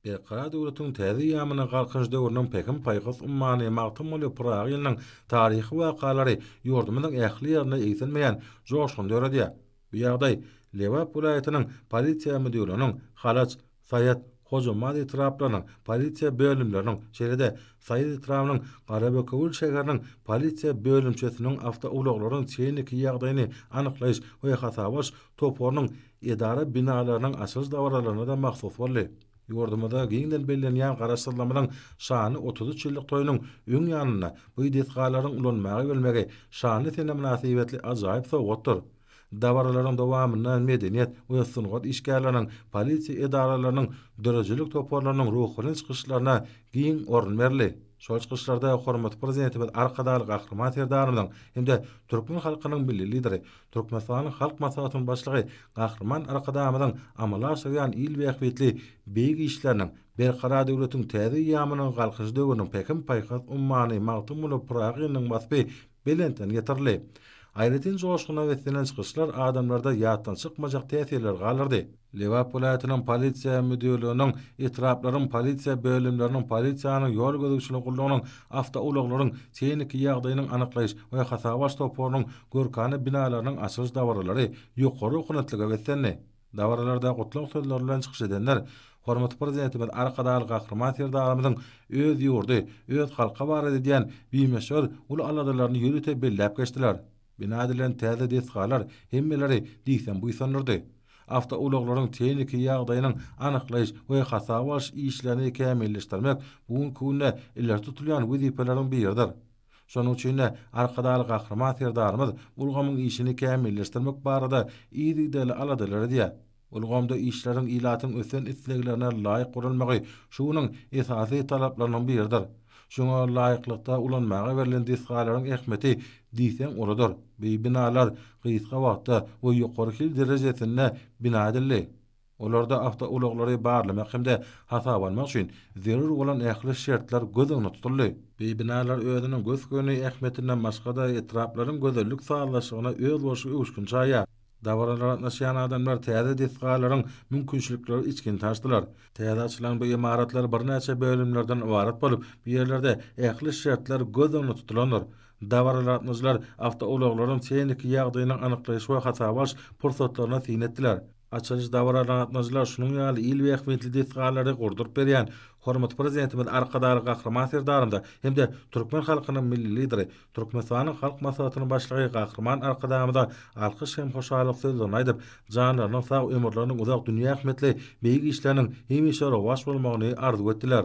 Berkarar döwletiň täze ýamyna Galkynyş döwrüniň Pähim-paýhas ummany Magtymguly Pyragy ýylynyň taryhy wakalary ýurdumyzyň ähli ýerinde egsilmeýän joşgun döredýär. Bu ýagdaý Lebap welaýatynyň Polisiýa müdirliginiň, Halaç, Saýat, Hojambaz etraplarynyň polisiýa bölümleriniň, şeýle-de Saýat etrabynyň Garabökewül şäheriniň polisiýa bölümçesiniň awtoulaglaryň tehniki ýagdaýyny anyklaýyş we hasap alyş toparynyň edara binalarynyň açylyş dabaralaryna-da mahsus boldy. Ýurdumyzda giňden bellenýän Garaşsyzlygymyzyň şanly otuz üç ýyllyk toýunyň öň ýanynda bu desgalaryň ulanmaga berilmegi şanly sene mynasybetli ajaýyp sowgatdyr. Dabaralaryň dowamynda medeniýet we sungat işgärleriniň, polisiýa edaralarynyň, döredijilik toparlarynyň ruhubelent çykyşlaryna giň orun berildi. Şol çykyşlarda hormatly Prezidentimiz Arkadagly Gahryman Serdarymyzyň hem-de türkmen halkynyň Milli Lideri, Türkmenistanyň Halk Maslahatynyň Başlygy Gahryman Arkadagymyzyň amala aşyrýan il bähbitli beýik işleriniň, Berkarar döwletiň täze eýýamynyň Galkynyş döwrüniň Pähim-paýhas ummany Magtymguly Pyragynyň waspy belentden getirildi. Aýratyn joşguna beslenýän çykyşlar adamlarda ýatdan çykmajak täsirleri galdyrdy. Lebap welaýatynyň Polisiýa müdirliginiň, etraplaryň polisiýa bölümleriniň, polisiýanyň, ýol gözegçilik gullugynyň, awtoulaglaryň tehniki ýagdaýynyň anyklaýyş we hasaba alyş toparynyň görkana binalarynyň açylyş dabaralary ýokary ownatlyga beslendi. Dabaralarda gutlag sözleri bilen çykyş edenler hormatly Prezidentimiz Arkadagly Gahryman Serdarymyzyň öz ýurdy, öz halky barada edýän bimöçber uly aladalaryny ýörite belläp geçdiler. Bina edilen täze desgalar hemmeleri diýseň buýsandyrdy. Awtoulaglaryň tehniki ýagdaýynyň anyklaýyş we hasaba alyş işlerini kämilleşdirmek bu günki günde ileri tutulýan wezipeleriň biridir. Şonuň üçin-de Arkadagly Gahryman Serdarymyz ulgamyň işini kämilleşdirmek barada yzygiderli aladalar edýär. Ulgamda işleriň ilatyň ösen isleglerine laýyk guralmagy şu günüň esasy talaplarynyň biridir. Şuňa laýyklykda ulanmaga berlen desgalaryň ähmiýeti diýseň uludyr. Beý binalar gysga wagtda we ýokary hil derejesinde bina edildi. Olarda awtoulaglary barlamak hem-de hasaba almak üçin zerur bolan ähli şertler göz öňünde tutuldy. Beý binalar özüniň gös-göni ähmiýetinden başga-da etraplaryň gözellik sazlaşygyna özboluşly öwüşgin çaýýar. Dabaralara gatnaşýan adamlar täze desgalaryň mümkinçilikleri içgin tanşdylar. Täze açylan bu ymaratlar birnäçe bölümlerden ybarat bolup, bu ýerlerde ähli şertler göz öňünde tutulandyr. Dabaralara gatnaşyjylar awtoulaglaryň tehniki ýagdaýynyň anyklaýyş we hasaba alyş pursatlaryna syn etdiler. Açylyş dabaralaryna gatnaşyjylar şunuň ýaly il we ähmiýetli desgalary gurduryp berýän hormatly Prezidentimiz Arkadagly Gahryman Serdarymyza hem-de türkmen halkynyň Milli Lideri, Türkmenistanyň Halk Maslahatynyň Başlygy Gahryman Arkadagymyza alkyş hem hoşallyk sözlerini aýdyp, janlarynyň sag, ömürleriniň uzak, dünýä ähmiýetli beýik işleriniň hemişe rowaç bolmagyny arzuw etdiler.